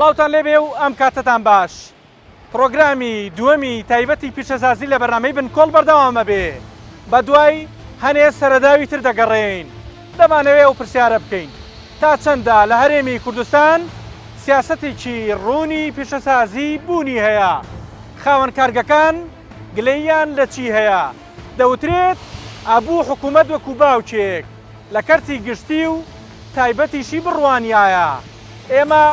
سڵاوان لێبێ و ئەم کاتتان باش پرۆگرامی دووەمی تایبەتی پیشەزازی لە بەرنمەی بن کۆڵ بەردەوامە بێ بە دوای هەنێ سەرەداوی تر دەگەڕێین دەمانەوێت ئەو پرسیارە بکەین، تا چەندە لە هەرێمی کوردستان سیاسەتێکی ڕوونی پیشەسازی بوونی هەیە؟ خاوەن کارگەکان گلەییان لە چی هەیە؟ دەوترێت ئەبوو حکوومەت وەکوو باوکێک لە کەرتی گشتی و تایبەتیشی بڕوانیایە. ئێمە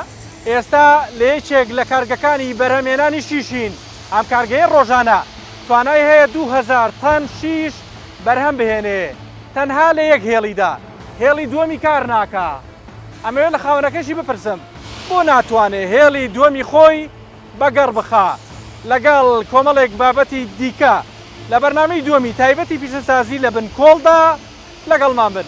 ئێستا لە یەکێک لە کارگەکانی بەرهەمهێنانی شیشین، ئەم کارگەیە ڕۆژانە توانای هەیە دوو هەزار تەن شیش بەرهەم بهێنێ. تەنها لە یەک هێڵیدا هێڵی دووەمی کار ناکا ئەمەوێ لە خاوەنەکەشی بپرسم بۆ ناتوانێ هێڵی دووەمی خۆی بە گەڕ بخا لەگەڵ کۆمەڵێک بابەتی دیکە لە بەرنامەی دووەمی تایبەتی پیشەسازی لە بن کۆڵدا لەگەڵمان بن.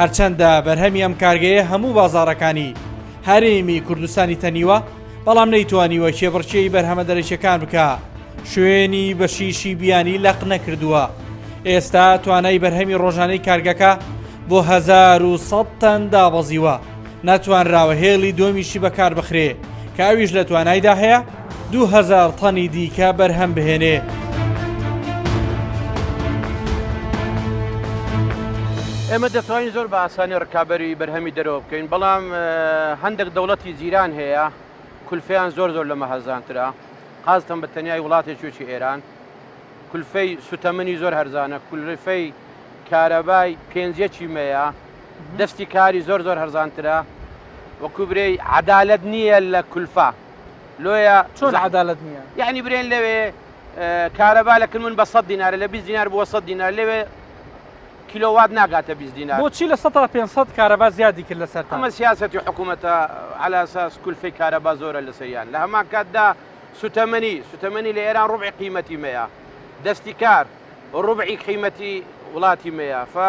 هەرچەندە بەرهەمی ئەم کارگەیە هەموو بازاڕەکانی هەرێمی کوردستانی تەنیوە بەڵام نەیتوانیوە کێبڕکێی بەرهەمە دەرەکیەکان بکە شوێنی بەشیشی بیانی لەق نەکردووە ئێستا توانای بەرهەمی ڕۆژانەی کارگەکە بۆ 1970 تەن دابەزیوە نەتوانراوە هێڵی دۆمیشی بەکاربخرێ کە ئەویش لە توانایدا هەیە دوو هەزار تەنی دیکە بەرهەم بهێنێ. ئێمە دەتوانین زۆر بە ئاسانی ڕکابەری بەرهەمی دەرەوە بکەین بەڵام هەندێک دەوڵەتی جیران هەیە کولفیان زۆر زۆر لەمە هەرزانترا قازتم بە تەنیای وڵاتی چوچی ئێران کولفەی سوتەمەنی زۆر هەرزانە کولفەی کارەبای پێنجەکی مەیە دەستی کاری زۆر زۆر هەرزانترە وەکو برێی عەدالەت نییە لە کولفە لۆیە چۆن عەدالەت نییە یعنی برێن لەوێ کارەبا لە کلمون بە سەد دینارە لە بیست دینار بووە سەد دینار لەوێ کیلۆوات ناگاتە بیست دینار بۆچی لە سەد تا پێنج سەد کارەبا زیادی کرد لەسەرتان ئەمە سیاسەتی حکوومەتە عەلا ئەساس کولفەی کارەبا زۆرە لەسەریان لە هەمان کاتدا سوتەمەنی سوتەمەنی لە ئێران ڕوبعی قیمەتی مەیە دەستی کار ڕوبعی قیمەتی وڵاتی مەیە فە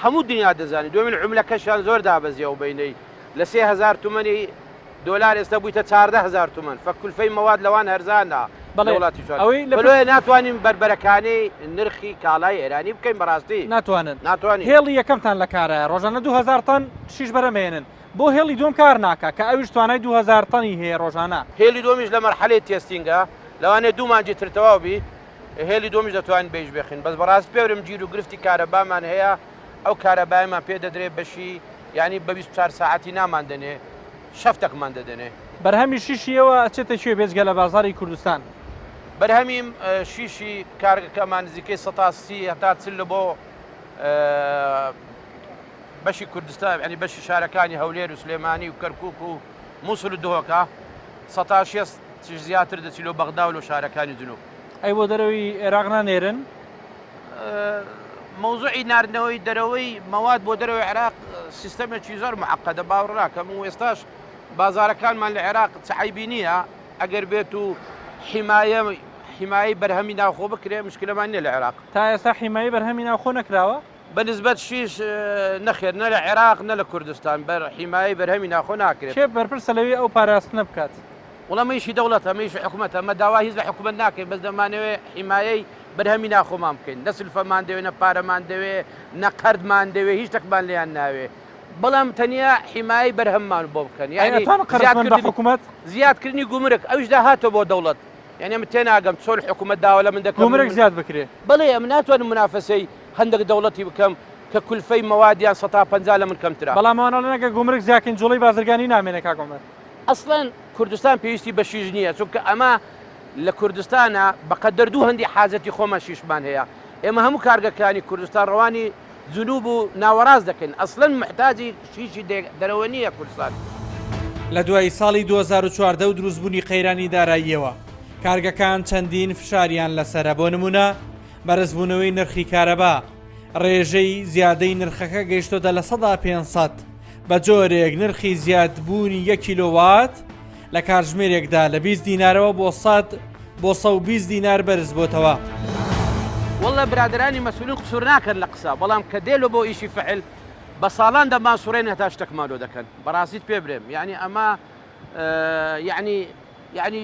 هەموو دنیا دەزانی دوێمین عملە کەشیان زۆر دابەزی ئەو بینەی لە سێ هەزار تومەنی دۆلار ئێستا بوویتە چاردە هەزار تومەن فە کولفەی مەواد لەوان هەرزانە بەڵێ وڵاتی چۆن ئەوەی لەوێ ناتوانین بەربەرەکانی نرخی کاڵای ئێرانی بکەین بەڕاستی ناتوانن ناتوانین هێڵی یەکەمتان لە کارایە ڕۆژانە دو هەزار تەن شیش بەرەم هێنن بۆ هێڵی دوم کار ناکا کە ئەویش توانای دو هەزار تەنی هەیە ڕۆژانە. هێلی دومیش لە مەرحەلەی تێستینگە لەوانەیە دوو مانگی تر تەواو بی. هێلی دووەمیش دەتوانین بەیش بێخین بەس بەڕاست پێورم جیرو گرفتی کارەبامان هەیە ئەو کارەبایەمان پێ دەدرێ بەشی یانی بە بیست و چار ساعەتی نامان دەنێ شەفتەکمان دەدەنێ. بەرهەمی شیشی ئێوە ئەچێتە کوێ بێجگە لە بازاڕی کوردستان؟ بەرهەمی شیشی کارگەکەمان نزیکەی سەتا سی هەتا چل لە بۆ بەشی کوردستان یانی بەشی شارەکانی هەولێر و سلێمانی و کەرکوک و موسل و دهۆکە سەتا شێست چش زیاتر دەچی لۆ بەغدا و لۆ شارەکانی جنوب. ئەی بۆ دەرەوەی عێراق نانێرن؟ مەوزوعی ناردنەوەی دەرەوەی مەواد بۆ دەرەوەی عێراق سیستەمێکی زۆر محقەدە باوڕناکەم و ئێستاش بازارەکانمان لە عێراق چعیبی نییە ئەگەر بێت و حیمایە حیمایی بەرهەمی ناوخۆ بکرێ مشکلەمان نیە لە عێراق. تا ئێستا حیمایی بەرهەمی ناوخۆ نەکراوە؟ بە نسبەت شیش نەخێر نە لە عێراق نە لە کوردستان بە حیمایەی بەرهەمی ناخۆ ناکرێت. کێ بەرپرسە لەوی ئەو پاراستنە بکات؟ وەڵا مە ئیشی دەوڵەتە مە ئیشی حکومەتە مە داوای هیچ لە حکومەت ناکەین بەس دەمانەوێ حیمایەی بەرهەمی ناخۆمان بکەین نە سلفەمان دەوێ نە پارەمان دەوێ نە قەردمان دەوێ هیچ شتەکمان لێیان ناوێ بەڵام تەنیا حیمایەی بەرهەممان بۆ بکەن یانی ئەی ئەتوان قەرز بن بە زیادکردنی حکومەت؟ زیادکردنی گومرک ئەویش داهاتە بۆ دەوڵەت یانی من تێناگەم چۆن حکومەت داوا لە من دەکەن گومرک زیاد بکرێ؟ بەڵێ ئەمن ناتوانم منافەسەی هەندەک دەوڵەتی بکەم کە کولفەی مەوادیان سەتا پەنجا لەمن کەمترە. بەڵام ئەوان ئەڵێن ئەگەر گومرک زیاکەین جوڵەی بازرگانی نامێنێ کاک عومەر. ئەسڵەن کوردستان پێویستی بە شیش نییە چونکە ئەمە لە کوردستانە بەقەدەر دوو هەندی حاجەتی خۆمان شیشمان هەیە ئێمە هەموو کارگەکانی کوردستان ڕەوانی جنوب و ناوەڕاست دەکەین ئەسڵەن محتاجی شیشی دەرەوە نییە کوردستان. لە دوای ساڵی دوو هەزار و چواردە و دروستبوونی قەیرانی داراییەوە کارگەکان چەندین فشاریان لەسەرە بۆ نموونە، بەرزبوونەوەی نرخی کارەبا، رێژەی زیادەی نرخەکە گەیشتۆتە لە سەدا پێنج سەد، بە جۆرێک نرخی زیادبوونی یەک کیلۆ وات لە کاتژمێرێکدا لە بیست دینارەوە بۆ سەد بۆ سەد و بیست دینار بەرزبۆتەوە. واللە برادەرانی مەسولین قسور ناکەن لە قسە بەڵام کە دێلۆ بۆ ئیشی فحل بە ساڵان دەمان سوڕێن هەتا شتەکمان لۆ دەکەن بەڕاستیت پێ برێم یانی ئەمە یانی یانی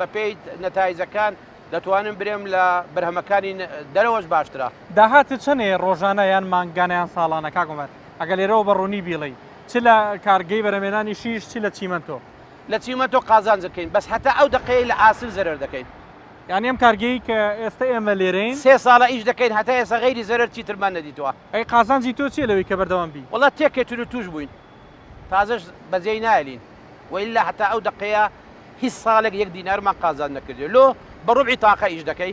بەپێی نەتایجەکان دەتوانم برێم لە بەرهەمەکانی دەرەوەش باشترە. داهاتت چەنەیە ڕۆژانە یان مانگانە یان ساڵانە کاک عومەر ئەگەر لێرەوە بە ڕوونی بیڵێی چ لە کارگەی بەرەمێنانی شیش چ لە چیمەنتۆ؟ لە چیمەنتۆ قازانج دەکەین بەس هەتا ئەو دەقەیەی لە ئاسن زەرەر دەکەین. یانی ئەم کارگەیەی کە ئێستە ئێمە لێرەین. سێ ساڵە ئیش دەکەین هەتا ئێستا غەیری زەرەر چیترمان نەدیتووە. ئەی قازانجی تۆ چیە لەوەی کە بەردەوام بی؟ وەڵا تێکەتر و تووش بووین. تازەش بەجێی نایەلین وە ئیلا هەتا ئەو دەقەیە هیچ ساڵێک یەک دینارمان قازانج نەکردیە لۆ بە ڕوبعی تاقە ئیش دەکەی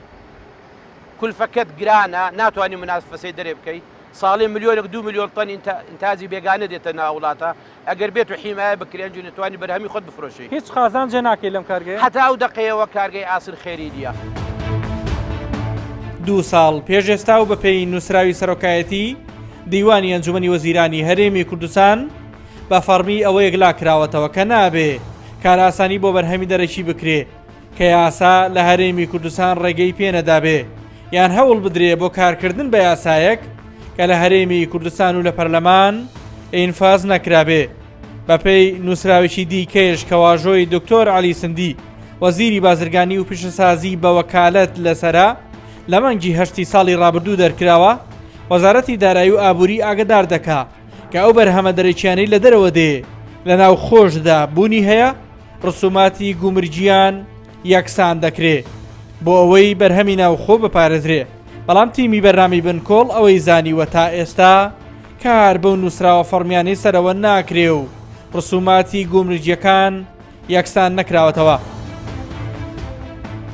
کولفەکەت گرانە ناتوانی منافەسەی دەرێ بکەی ساڵی ملیۆنێک دوو ملیۆن تەن ئینتاجی بێگانە دێتە ناو وڵاتە ئەگەر بێت و حیمایە بکرێ ئەنجی دەتوانی بەرهەمی خۆت بفرۆشی. هیچ قازانجێ ناکەی لەم کارگەیە؟ هەتا ئەو دەقەیەوە کارگەی ئاسن خێری نیە. دوو ساڵ پێش ئێستا و بە پێی نووسراوی سەرۆکایەتی، دیوانی ئەنجومەنی وەزیرانی هەرێمی کوردستان بە فەڕمی ئەوە یەکلا کراوەتەوە کە نابێ کارئاسانی بۆ بەرهەمی دەرەکی بکرێ کە یاسا لە هەرێمی کوردستان ڕێگەی پێنەدابێ یان هەوڵ بدرێ بۆ کارکردن بە یاسایەک کە لە هەرێمی کوردستان و لە پەرلەمان ئینفاز نەکرابێ بەپێی نووسراوێکی دیکەش کە واژۆی دکتۆر علی سندی وەزیری بازرگانی و پیشەسازی بە وەکالەت لەسرە لە مانگی هەشتی ساڵی ڕابردوو دەرکراوە، وەزارەتی دارایی و ئابووری ئاگەدار دەکا کە ئەو بەرهەمە دەرەکییانەی لە دەرەوە دێ لە ناوخۆشدا بوونی هەیە، ڕسوماتی گومرگییان یەکسان دەکرێ بۆ ئەوەی بەرهەمی ناوخۆ بپارێزرێ، بەڵام تیمی بەرنامەی بنکۆڵ ئەوەی زانیوە تا ئێستا کار بەو نووسراوە فەڕمییانەی سەرەوە ناکرێ و ڕسوماتی گومرگییەکان یەکسان نەکراوەتەوە.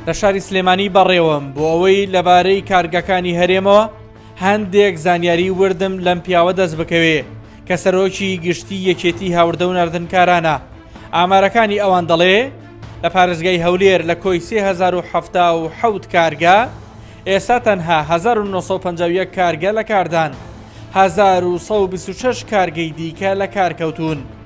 لە شاری سلێمانی بەڕێوەم بۆ ئەوەی لەبارەی کارگەکانی هەرێمەوە هەندێک زانیاری وردم لەم پیاوە دەست بکەوێ کە سەرۆکی گشتی یەکێتی هاوردە و نردنکارانە ئامارەکانی ئەوان دەڵێ لە پارێزگای هەولێر لە کۆی 1970 کارگە ئێستا تەنها 1950 کارگە لە کاردان 1920 کارگەی دیکە لە کارکەوتون.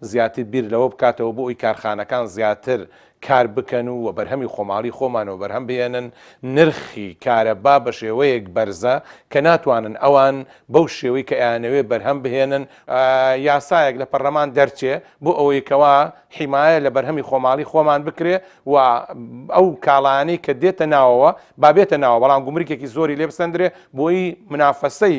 زیاتر بیر لەوە بکاتەوە بۆ ئەوی کارخانەکان زیاتر کار بکەن و و بەرهەمی خۆماڵی خۆمان وەبەرهەم بهێنن، نرخی کارەبا بە شێوەیەک بەرزە کە ناتوانن ئەوان بەو شێوەی کە ئەیانەوێ بەرهەم بهێنن، یاسایەک لە پەرلەمان دەرچێ بۆ ئەوەی کەوا حیمایە لە بەرهەمی خۆماڵی خۆمان بکرێ و ئەو کاڵایانەی کە دێتە ناوەوە با بێتە ناوەوە بەڵام گومرکێکی زۆری لێ بسەندرێ بۆی منافەسەی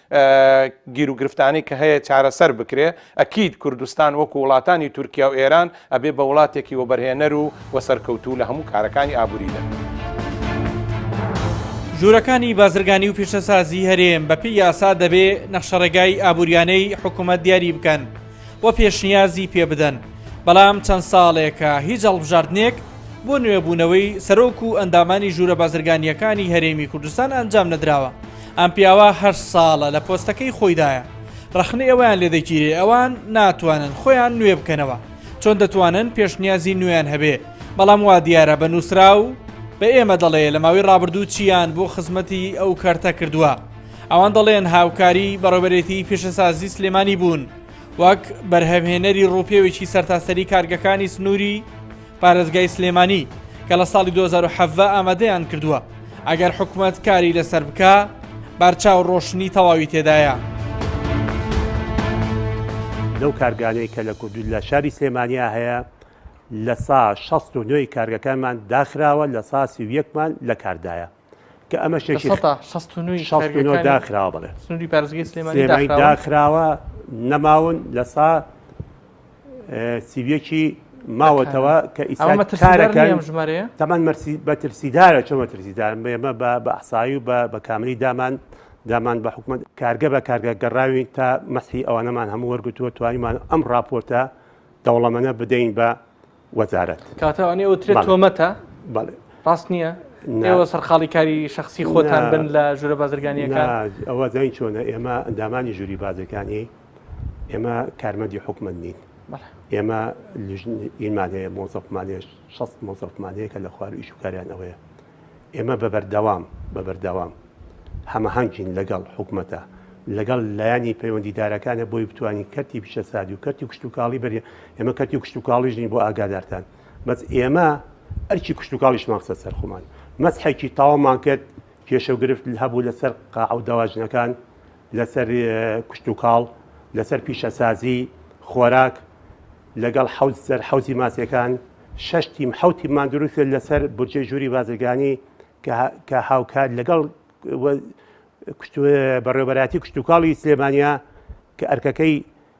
گیروگرفتانەی کە هەیە چارەسەر بکرێ ئەکید کوردستان وەکو وڵاتانی تورکیا و ئێران ئەبێ بە وڵاتێکی وەبەرهێنەر و وە سەرکەوتوو لە هەموو کارەکانی ئابووریدا. ژوورەکانی بازرگانی و پیشەسازی هەرێم بەپێی یاسا دەبێ نەخشەڕێگای ئابووریانەی حکوومەت دیاری بکەن و پێشنیازی پێ بدەن، بەڵام چەند ساڵێکە هیچ هەڵبژاردنێک بۆ نوێبوونەوەی سەرۆک و ئەندامانی ژوورە بازرگانییەکانی هەرێمی کوردستان ئەنجام نەدراوە. ئەم پیاوە هەشت ساڵە لە پۆستەکەی خۆیدایە ڕەخنەی ئەویان لێ دەگیرێ ئەوان ناتوانن خۆیان نوێ بکەنەوە چۆن دەتوانن پێشنیازی نوێیان هەبێ بەڵام وا دیارە بە نووسراو بە ئێمە دەڵێ لە ماوەی ڕابردوو چیان بۆ خزمەتی ئەو کەرتە کردووە ئەوان دەڵێن هاوکاری بەڕێوەبەرێتی پیشەسازی سلێمانی بوون وەک بەرهەمهێنەری ڕووپێوێکی سەرتاسەری کارگەکانی سنووری پارێزگای سلێمانی کە لە ساڵی 2017 ئامادەیان کردووە ئەگەر حکومەت کاری لەسەر بکە بارچاو ڕۆشنی تەواوی تێدایە. لەو کارگانەی کە لە کوردی لە شاری سلێمانیا هەیە لە سا 69 کارگەکانمان داخراوە لە سا 31مان لە کاردایە. کە ئەمە شێکی داخراوە بڵێ سنووری پارێزگەی سلێمانی داخراوە نەماون لە سا سیویەکی ماوەتەوە کە ئیسارەکان ژمارە تەمان مەرسی بە ترسیدارە چۆن بە ترسیدار ئێمە بە بەسایی و بە بە کاملی دامان دامان بە حکومت کارگە بە کارگە گەڕاوی تا مەسی ئەوانەمان هەموو وەرگتووە توانیمان ئەم راپۆرتە دەوڵەمەە بدەین بە وەزارەت. کەواتە ئەوانەی ئەوترێت تۆمەتە ڕاست نییە؟ ئێوە سەرقاڵی کاری شخصی خۆتان بن لە ژورە بازرگانیەکان ئەوە زین چۆنە ئێمە ئەندامانی ژووری بازەکانی ئێمە کارمەندی حکومت نین ئێمە ئیمانەیە مۆزەفمانێش شەست مۆزەفمانەیە کە لە خوار ئیشوکاریان ئەوەیە ئێمە بە بەردەوام بە بەردەوام هەمەهەنگین لەگەڵ حکومەتە، لەگەڵ لایەنی پەیوەندیدارەکانە بۆی بتوانین کەرتی پیشەسازی و کەرتی کشتوکاڵی بەری ئێمە کەرتی کشتوکاڵیش نین بۆ ئاگادارتان بەس ئێمە ئەرکی کشتوکاڵیشمان خستە سەر خۆمان مەسحێکی تاومان کرد کێشە و گرفت هەبوو لەسەر قاعە و دەواجنەکان لەسەر کشتوکاڵ، لەسەر پیشەسازی، خۆراک، لەگەڵ حەوت سەر حەوزی ماسیەکان، شەش تیم حەوت تیممان دروست کرد لەسەر بودجەی ژووری بازرگانی کە هاوکات لەگەڵ بەڕێوەبەرایەتی کشتوکاڵی سلێمانیە کە ئەرکەکەی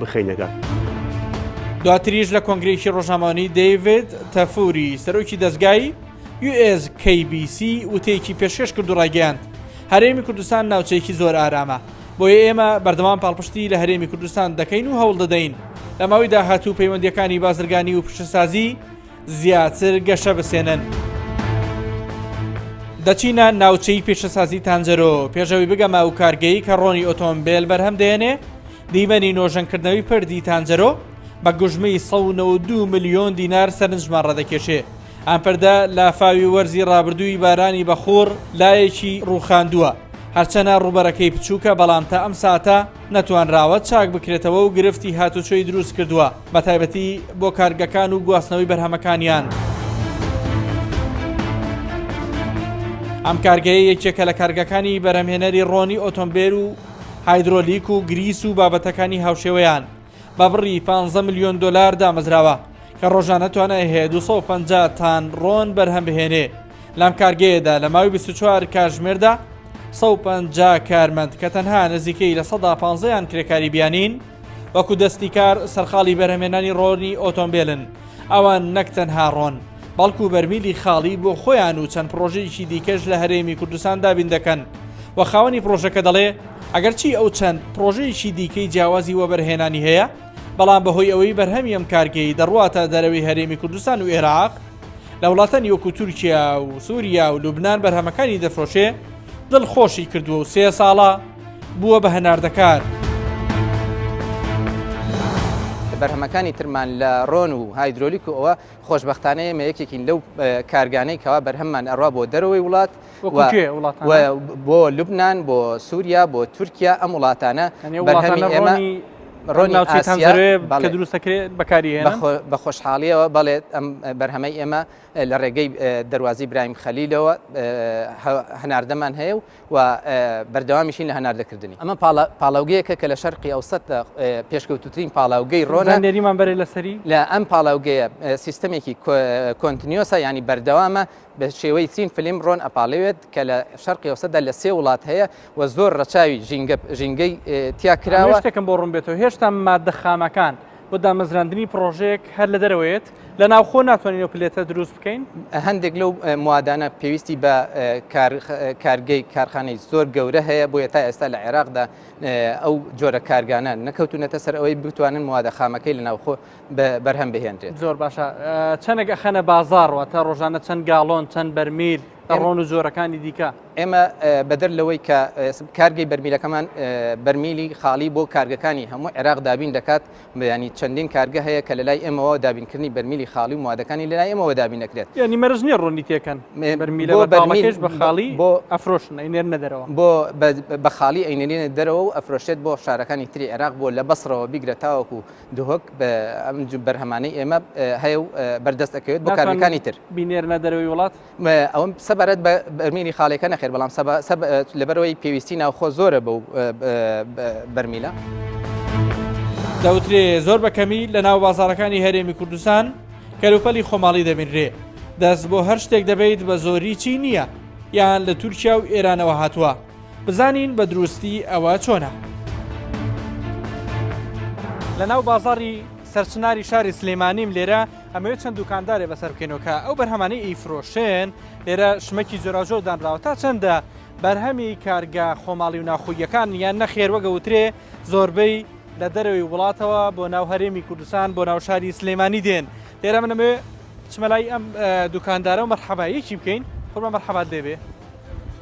بخەینە گەڕ. دواتریش لە کۆنگرێکی ڕۆژنامەوانی دەیڤێت تەفوری سەرۆکی دەستگای US KBC وتەیەکی پێشکەش کرد و ڕایگەیاند هەرێمی کوردستان ناوچەیەکی زۆر ئارامە بۆیە ئێمە بەردەوام پاڵپشتی لە هەرێمی کوردستان دەکەین و هەوڵ دەدەین لە ماوەی داهاتوو پەیوەندیەکانی بازرگانی و پشتسازی زیاتر گەشە بسێنن. دەچینە ناوچەی پیشەسازی تانجەرۆ پێشەوی بگەمە ئەو کارگەی کە ڕۆنی ئۆتۆمبیل بەرهەم دێنێ دیمەنی نۆژەنکردنەوەی پردی تانجەرۆ بە گوژمەی 192 میلیۆن دینار سەرنجمان ڕەدەکێشێ ئەم پردە لافاوی وەرزی ڕابردووی بارانی بەخوڕ لایەکی ڕووخاندووە هەرچەنە ڕوبەرەکەی بچووکە بەڵام تا ئەم ساتە نەتوانراوە چاک بکرێتەوە و گرفتی هاتوچۆی دروست کردووە بە تایبەتی بۆ کارگەکان و گواستنەوەی بەرهەمەکانیان. ئەم کارگەیە یەکێکە لە کارگەکانی بەرهەمهێنەری ڕۆنی ئۆتۆمبێل و هایدرۆلیک و گریس و بابەتەکانی هاوشێوەیان بە بڕی 15 ملیۆن دۆلار دامەزراوە کە ڕۆژانە توانای هەیە 250 تان ڕۆن بەرهەم بهێنێ. لەم کارگەیەدا لە ماوی 24 کاتژمێردا 150 کارمەند کە تەنها نزیکەی لە سەدا پانزەیان کرێکاری بیانین وەکو دەستی کار سەرقاڵی بەرهەمێنانی ڕۆنی ئۆتۆمبیلن ئەوان نەک تەنها ڕۆن بەڵکو بەرمیلی خاڵی بۆ خۆیان و چەند پرۆژەیەکی دیکەش لە هەرێمی کوردستان دابین دەکەن و خاوەنی پرۆژەکە دەڵێ ئەگەرچی ئەو چەند پرۆژەیەکی دیکەی جیاوازی وەبەرهێنانی هەیە بەڵام بەهۆی ئەوەی بەرهەمی ئەم کارگەی دەڕواتە دەرەوەی هەرێمی کوردستان و ئێراق لە وڵاتانی وەکو تورکیا و سووریا و لوبناان بەرهەمەکانی دەفرۆشێ دڵ خۆشی کردووە و سێ ساڵە بووە بە هەناردەکار. بەرهەمەکانی ترمان لە ڕۆن و هایدرۆلیک و ئەوە خۆشببختانەیە مە یەکێکین لەو کارگانەی کەوا بەرهەممان ئەڕوا بۆ دەرەوەی وڵات بۆ لوبناان بۆ سووریا بۆ تورکیا ئەم وڵاتانە بەرهەمی ئێمە ڕۆنی دروستەکرێت بەکاری بە خۆشحاڵیەوە بەڵێت ئەم بەرهەمەی ئێمە لە ڕێگەی دەواازی برایم خەلیلەوە هەناردەمان هەیە و بەردەوامیشین لە هەناردەکردنی ئەمە پاڵاوگەیەکە کە لە شەرقی ئەو سە پێشکەوتترین پاڵاوگەی ڕۆنە نێریمان بەرێ لەسەری لە ئەم پاڵاوگەیە سیستەمێکی کۆنتنیۆسە ینی بەردەوامە بە شێوەی چین فلیم ڕۆن ئەپاڵێوێت کە لە شەرقی ئەوسەدا لە سێ وڵات هەیە و زۆر ڕەچاوی ژینگە ژینگەی تیا کراوە. ئەمەی شتێکم بۆ ڕوون بێتەوە هێشتا ماددە خامەکان بۆ دامەزراندنی پڕۆژەیەک هەر لە دەرەوەیەت لە ناوخۆ ناتوانین و پلێتە دروست بکەین هەندێک لەو موادانە پێویستی بە کارگەی کارخانەی زۆر گەورە هەیە بۆ تا ئێستا لە عێراقدا ئەو جۆرە کارگانە نەکەوتونەتە سەر ئەوەی بتوانن موادە خامەکەی لە ناوخۆ بەرهەم بهێنرێت. زۆر باشە چەنێک ئەخەنە بازار واتە ڕۆژانە چەند گاڵۆن چەند بەرمیل ئەڕۆن و جۆرەکانی دیکە ئێمە بەدەر لەوەی کە کارگەی بەرمیلەکەمان بەرمیلی خاڵی بۆ کارگەکانی هەموو عێراق دابین دەکات بەیانی چەندین کارگە هەیە کە لەلای ئێمەوە دابینکردنی بەرمیلی خاڵی و موادەکانی لەلای ئێمەوە دابین دەکرێت ینی مەرج نیە ڕوونی تێکەن بەرمیلە بەرمیش بە خاڵی بۆ ئەفرۆشن ئەینێر نەدەرەوە بۆ بە خاڵی ئەینێنە دەرەوە و ئەفرۆشێت بۆ شارەکانی تری عێراق بۆ لە بەسڕەوە بیگرە تاوەکو دهۆک ئەم بەرهەمانەی ئێمە هەیە و بەردەست ئەکەوێت بۆ کارگەکانی تر بینێرنە دەرەوەی وڵات ئەوم سەبارەت بە بەرمێنی خاڵێکە نەخێر بەڵام لەبەرەوەی پێویستی ناوخۆ زۆرە بەو بەرمیلە. دەوترێ زۆر بە کەمی لە ناو بازارەکانی هەرێمی کوردستان کەلوپەلی خۆماڵی دەبینرێ دەست بۆ هەر شتێک دەبیت بە زۆری چی نییە یان لە تورکیا و ئێرانەوە هاتووە. بزانین بە دروستی ئەوە چۆنە. لە ناو بازاری سەرچناری شاری سلیمانیم لێرە ئەمەوێت چەند دوکاندارێ بەسەر بکەینەوە کە ئەو بەرهەمانەی ئیفرۆشێن لێرە شمەکی جۆراژۆر دانراوە تا چەندە بەرهەمی کارگە خۆماڵی و ناخۆییەکان یان نەخێر وەگەوترێ زۆربەی لە دەرەوەی وڵاتەوە بۆ ناو هەرێمی کوردستان بۆ ناو شاری سلەیمانی دێن لێرە منەمێ چمەلای ئەم دوکاندارە و مەرحەبایەکی بکەین خۆمە مەرحەبات دەبێ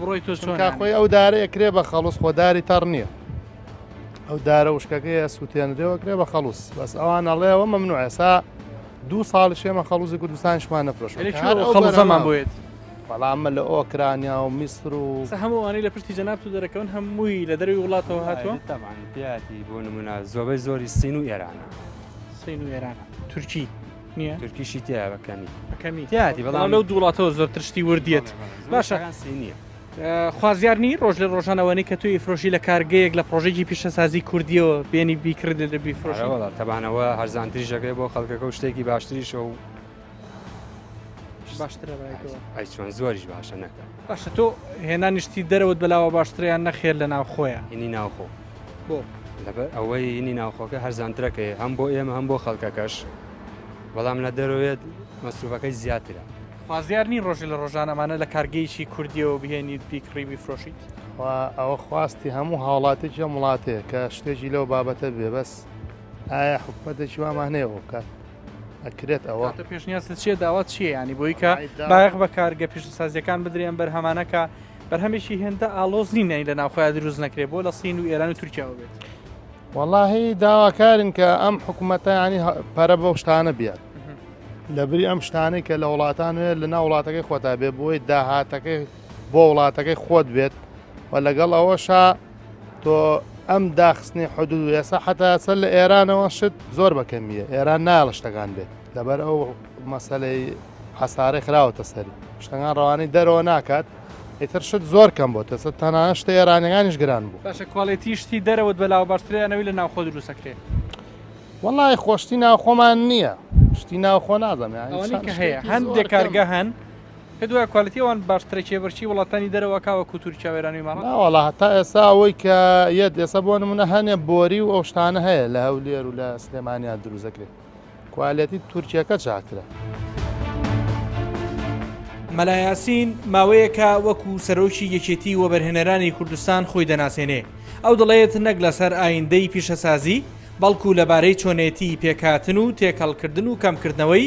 بڕۆی تۆ خۆی ئەو دارە ئەکرێ بە خەڵوس خۆداری تەڕ نییە ئەو دارە وشکەکەی سووتێنرێەوە کرێ بە خەڵوس بەس ئەوان ئەڵێەوە مەمنوع ئێسا دوو ساڵ شێمە خەڵوزی کوردستانشمان نەفرۆش خەڵزەمان بێت بەڵامە لە ئۆکرانیا و میسر و هەمووانی لە پشتی جەناب و دەرەکەون هەمووی لە دەروی وڵاتەوە هاتووە تاوان پیاتی بۆ نمونە زۆبەی زۆری سین و ئێرانە سین و ئێرانە تورکی نییە تورکیشی تیا بە کەمی بە کەمی تیاتی بەڵام لەو دووڵاتەوە زۆرتر شتی وردیت باشە نییە. خوازیارنی ڕۆژ لە ڕۆژانەوەنی کە توی فرۆشی لە کارگەیەک لە پرۆژێکی پیشەسازی کوردیەوە بێنی بیکرد لە دەبی فرۆشەوە تەبانەوە هەرزانتری ژەکەی بۆ خەڵکەکە و شتێکی باشتریشە و باشترە ئەی چۆن زۆریش باشە نەکە باشە تۆ هێنانی شتی دەرەوەت بەلاوە باشترە یان نەخێر لە ناوخۆیە؟ هینی ناوخۆ بۆ؟ لەبەر ئەوەی هینی ناوخۆکە هەرزانترەکەی هەم بۆ ئێمە هەم بۆ خەڵکەکەش بەڵام لە دەرەوەێت مەسروفەکەی زیاترە. خوازیار نین ڕۆژی لە ڕۆژان ئەمانە لە کارگەیەکی کوردیەوە بهێنیت بیکڕی بیفرۆشیت؟ خوا ئەوە خواستی هەموو هاوڵاتێکی ئەم وڵاتەیە کە شتێکی لەو بابەتە بێ بەس ئایا حکومەتێکی وامان هەیە ئەوە بکات؟ ئەکرێت ئەوە پێشنیاز چیە داوات چیە ینی بۆی کە بایەخ بە کارگە پیشسازیەکان بدرێن بەرهەمانەکە بەرهەمێکی هێندە ئالۆز نینەی لە ناوخۆیا دروست نەکرێت بۆ لە سین و ئێران و تورکیاوە بێت واللهی داواکارن کە ئەم حکوومەتە ینی پەرە بەو شتانە بیات لە بری ئەم شتانەی کە لە وڵاتان وێ لە ناو وڵاتەکەی خۆتا بێ بۆی داهاتەکەی بۆ وڵاتەکەی خۆت بێت و لەگەڵ ئەوەشا تۆ ئەم داخستنی حدود و یاسا حتا سەر لە ئێرانەوە شت زۆر بەکەمیە ئێران نایڵە شتەکان بێت لەبەر ئەو مەسلەی حەسارەی خراوەتە سەری شتەکان ڕەوانەی دەرەوە ناکات ئیتر شت زۆر کەم بۆ تەسە تەنها شتە ئێرانەکانیش گران بوو باشە کوالێتی شتی دەرەوەت بەلاوە باشترێنەوەی لە ناوخۆ دروستەکرێت وڵی خۆشتی ناوخۆمان نییە شتی ناوخۆ نازانێت هەندێک کارگە هەن پێت وایە کوالێتی ئەوان باشترە کێبەرکێی وڵاتانی دەرەوە کاوە کوتوری چاوێرانەوەی ماڵە؟ نا وەڵا هەتا ئێستا ئەوەی کە یەت ئێستا بۆ نمونە هەنێ بۆری و ئەو شتانە هەیە لە هەولێر و لە سلێمانیان دروست دەکرێت کوالێتی تورکیەکە چاکترە. مەلا یاسین ماوەیەکە وەکو سەرۆکی یەکێتی وەبەرهێنەرانی کوردستان خۆی دەناسێنێ ئەو دەڵێت نەک لەسەر ئایندەی پیشەسازی بەڵکو لەبارەی چۆنێتی پێکهاتن و تێکەڵکردن و کەمکردنەوەی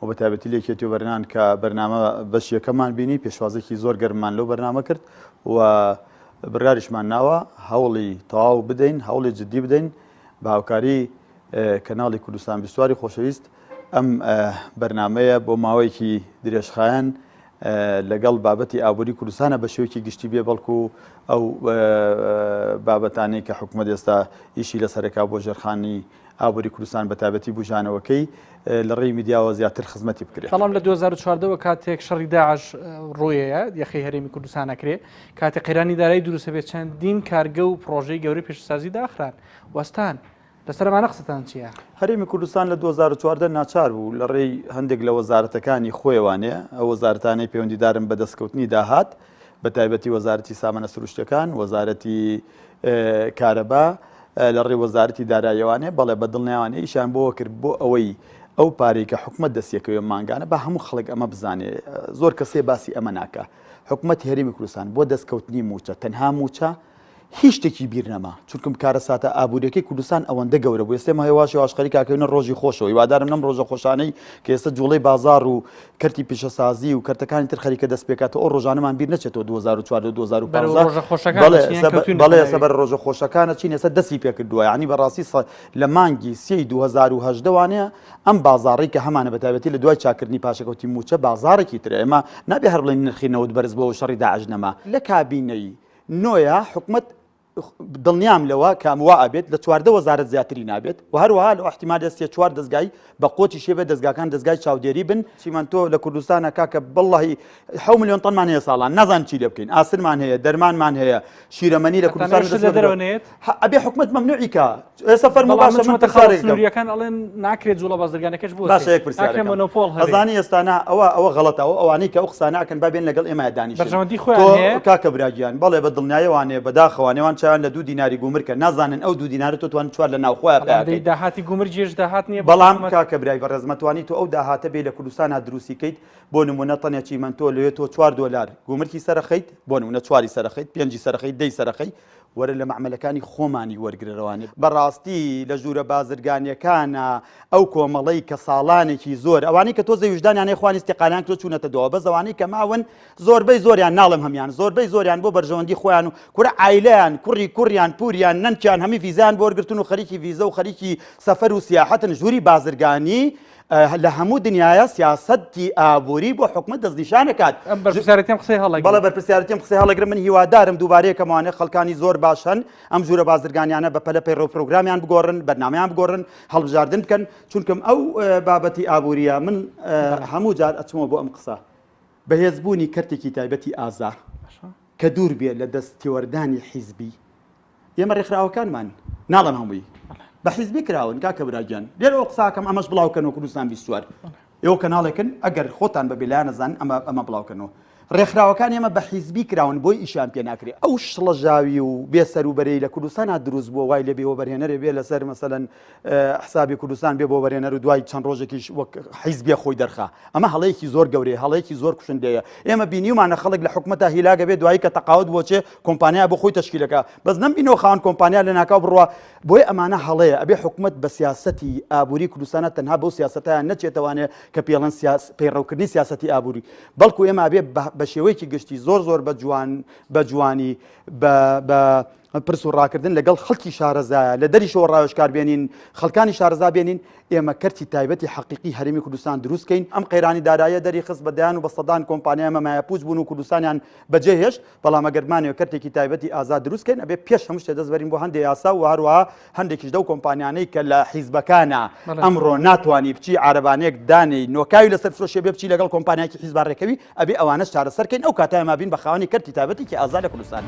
و بە تایبەتی لە یەکێتی و بەرنان کە بەرنامە بەش یەکەمان بینی پێشوازێکی زۆر گەرممان لەو بەرنامە کرد و بڕیاریشمان ناوە هەوڵی تەواو بدەین هەوڵی جددی بدەین بە هاوکاری کەناڵی کوردستان بیستواری خۆشەویست ئەم بەرنمەیە بۆ ماوەیەکی درێژخایەن لەگەڵ بابەتی ئابووری کوردستانە بە شێوکی گشتی بێ بەڵکو ئەو بابەتانی کە حکومە دێستا ئیشی لە سەرەکە بۆ ژێرخانی ئابووری کوردستان بەتابەتی بووژانەوەکەی لە ڕێی میدیاوە زیاتر خزمەتی بکرێت. بەڵام لە دوو هەزار و چواردە وە کاتێک شەڕی داعش ڕوویەیە یەخەی هەرێمی کوردستان ئەکرێ کاتێ قەیرانی دارایی دروستە بێت چەندین کارگە و پڕۆژەی گەورەی پێشسازی داخران وەستان لەسەرمانە قسەتان چییە؟ هەرێمی کوردستان لە 2014 ناچار بوو لە ڕێی هەندێک لە وەزارەتەکانی خۆیوانێ ئەو وەزارتانەی پەیوەندیدارن بە دەستکەوتنی داهات بە تایبەتی وەزارەتی سامانە سروشتەکان وەزارەتی کارەبا لە ڕێی وەزارەتی دارایەوانێ بەڵێ بە دڵنیایانە ئیشیان بۆوە کرد بۆ ئەوەی ئەو پارەی کە حکومەت دەستیەکەوێ مانگانە بە هەموو خەڵک ئەمە بزانێ زۆر کەسێ باسی ئەمە ناکە حکومەت هێرمی کوردستان بۆ دەستکەوتنی موچە تەنها موچە هیچ شتێکی بیر نەما چونکم کارە ساتە ئابوووریەکەی کوردستان ئەوەندە گەورە بوو ئێستێ ماهێواش واش خەریکاکەێنە ڕۆژی خۆشەوە وادارم نەم ڕۆژە خۆشانەی کە ئێستا جوڵەی بازار و کەرتی پیشەسازی و کەرتەکانی تر خەریکە دەست پێکاتەوە ئەو ڕۆژانەمان بیر نەچێتەوە 2004 بەڵێ سەبەر ڕۆژە خۆشەکانە چین ێستا دەستی پێکردووە ینی بەڕاستی لە مانگی سی 2010 وانەیە ئەم بازاڕی کە هەمانە بەتابەتی لە دوای چاکردنی پاشەکەوتی موچە بازارێکی تر ئێمە نابێ هەر بڵێن نرخی نەوت بەرز بۆ شەڕی داعش نەما لە کابینەی نۆە حکومت دڵنیام لەوە کە ئەمە وا ئەبێت، لە چواردە وەزارەت زیاتری نابێت و هەروەها لەو ئیحتیمالە سێ چوار دەزگای بە قۆچی شێ بێت، دەزگاکان دەزگای چاودێری بن. چیمەنتۆ لە کوردستانە کاکە بەڵڵاهی حەو ملیۆن تەنمان هەیە ساڵانە نازانین چی لێ بکەین، ئاسنمان هەیە، دەرمانمان هەیە، شیرەمەنی لە حەتان کوردستان ئەوێشت لە دەرەوە نەیەت. هە ئەبێ حکومەت مەمنوعی کا. ئێستا فەرمو باشە من تەخارێک سنووریەکان ئەڵێن ناکرێت جوڵە بازرگانەکەش بۆ باشە یەک پرسیارەکە مۆنۆپۆل هەزانی ئێستانا ئەوە ئەوە غەڵەتە ئەو ئەوانەی کە ئەو قسانەکەن بابێن لەگەڵ ئێمە دانیش بەرژەوەندی خۆیان کاکە براگیان بەڵێ بە دڵنیایەوانێ بەداخەوانێوان چیان لە دوو دیناری گومرکە نازانن ئەو دوو دینارە تۆ توان چوار لە ناوخۆیان پێدەی داهاتی گومر جێش داهات نییە بەڵام کاکە برای بە ڕێزمەتوانی تۆ ئەو داهاتە بێ لە کوردستانە دروستی کەیت بۆ نمونە تەنێکی من تۆ لێ تۆ چوار دۆلار گومرکی سەرخەیت بۆ نمونە چواری سەرخەیت پێنجی سەرخەیت دەی سەرخەیت وەرە لە مەعمەلەکانی خۆمانی وەرگرە رەوانە بە راستی لە ژوورە بازرگانیەکانە ئەو کۆمەڵەی کە ساڵانێکی زۆر ئەوانەی کە تۆزێ ویژدانیان هەیە خوانی استیقالیان کردوە چوونەتە دوا بەس ئەوانەی کە ماون زۆربەی زۆریان ناڵێم هەمیان زۆربەی زۆریان بۆ بەرژەوەندی خۆیان و کورە عایلەیان کوڕی کوڕیان پوریان نەنکیان هەمی ڤیزەیان بۆ وەرگرتن و خەریکی ڤیزە و خەریکی سەفەر و سیاحەتن ژووری بازرگانی لە هەموو دنیاە سیاسەتی ئابووری بۆ حکومت دەستنیشانەکات بەرپسیارەتیم قسەی هەڵێک بەڵە بەرپسیارەتیم قسەی هەڵەگر من هیوادارم دووبارەیە کەمانە خەڵکانی زۆر باشن ئەم جوورە بازرگانیانە بە پەلە پەیڕۆ پرۆگرامیان بگۆڕن بەرنمەیان بگۆڕن هەڵبژاردن بکەن چونکەم ئەو بابەتی ئابووریە من هەموو جار ئەچمەوە بۆ ئەم قسە بەهێزبوونی کەرتێکی تایبەتی ئازا کە دوور بێت لە دەست تێوەردانی حیزبی ئێمە ڕێکخراوەکانمان ناڵم هەمووی بە حیزبی کراون کاکە براگیان لێر ئەو قساکەم ئەمەش بڵاوکەنەوە کوردستان بیستوار ئێوە کەناڵێکن ئەگەر خۆتان بە بلانەزان ئەمە ئەمە بڵاوکەنەوە ڕێکخراوەکان ئێمە بە حیزبی کراون بۆی ئیشان پێ ناکرێت ئەو شڵەژاوی و بێسەر و بەرەی لە کوردستان دروست بووە وای لە بێوە بەرهێنەرێ بێ لەسەر مەسەن حسابی کوردستان بێ بۆ وەرێنەر و دوای چەند ڕۆژێکیش وەک حیزبێ خۆی دەرخا ئەمە هەڵەیەکی زۆر گەورەیە هەڵەیەکی زۆر کوشندەیە ئێمە بینیمانە خەڵک لە حکومەتە هیلاگە بێ دوایی کە تەقاوت بۆچێ کۆمپانیا بۆ خۆی تشکیلەکە بەس نم بینەوە خاوەن کۆمپانیا لە ناکاو بڕە بۆی ئەمانە هەڵەیە ئەبێ حکومت بە سیاستی ئابووری کوردستانە تەنها بەو سیاستیان نەچێتوانێ کە پێڵەن سیاس پەیڕەوکردنی سیاستی ئابووری بەڵکو ئێمە بێ بە شێوەیەکی گشتی زۆر زۆر بە جوان بە جوانی بە پرس و ڕاکردن لەگەڵ خەڵکی شارەزایە لە دەریشەوە ڕاوێژکار بێنین خەڵکانی شارەزا بێنین ئێمە کەرتی تایبەتی حەقیقی هەرێمی کوردستان دروستکەین ئەم قەیرانی دارایە دەری خست بە دەیان و بە سەدان کۆمپانیای مەمایە پووچ بوون و کوردستانیان بەجێ هێشت بەڵام ئەگەر بمانەوێت کەرتێکی تایبەتی ئازاد دروستکەین ئەبێ پێش هەموو شتێ دەست بەرین بۆ هەندێ یاسا و هەروەها هەندێکیش دەو کۆمپانیانەی کە لە حیزبەکانە ئەمڕۆ ناتوانانی بچی عربانێک دانەی نۆکاوی لەسەر فرۆشێ بێ بچی لەگەڵ کۆمپانیاکی حیزبا ڕێکەوی ئەبێ ئەوانەش چارەسەر کەین ئەو کاتە ئێمە بین بە خاوەنی کەرتی تایبەتێکی ئازا لە کوردستان.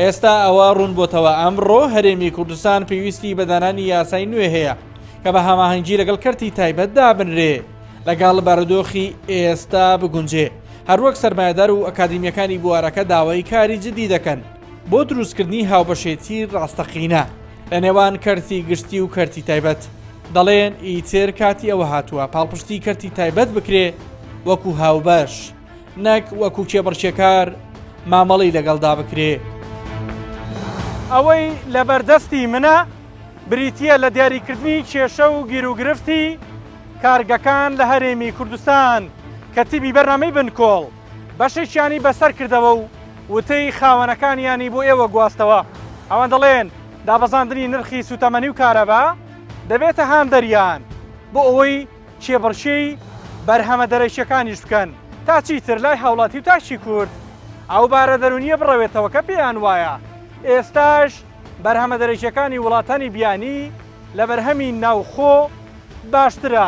ئێستا ئەوە ڕوون بۆتەوە ئەمڕۆ هەرێمی کوردستان پێویستی بە دانانی یاسای نوێ هەیە کە بە هەماهەنگی لەگەڵ کەرتی تایبەت دابنرێ لەگەڵ بارودۆخی ئێستا بگونجێ هەروەک سەرمایەدار و ئەکادیمیەکانی بوارەکە داوای کاری جدی دەکەن بۆ دروستکردنی هاوبەشێتی ڕاستەقینە لە نێوان کەرتی گشتی و کەرتی تایبەت دەڵێن ئیتر کاتی ئەوە هاتووە پاڵپشتی کەرتی تایبەت بکرێ وەکو هاوبەش نەک وەکو کێبڕکێکار مامەڵی لەگەڵدا بکرێ. ئەوەی لەبەردەستی منە بریتییە لە دیاریکردنی کێشە و گیروگرفتی کارگەکان لە هەرێمی کوردستان کە تیبی بەرنامەی بنکۆڵ، بەشێکیانی بەسەر کردەوە و وتەی خاوەنەکانیانی بۆ ئێوە گواستەوە. ئەوان دەڵێن، دابەزاندنی نرخی سووتەمەنی و کارەبا دەبێتە هاندەریان بۆ ئەوەی کێبڕکێی بەرهەمە دەرەکییەکانیش بکەن، تا چیتر لای هاوڵاتی و تاکی کورد ئەو بارە دەروونییە بڕەوێتەوە کە پێیان وایە ئێستاش بەرهەمە دەرەکییەکانی وڵاتانی بیانی لە بەرهەمی ناوخۆ باشترە.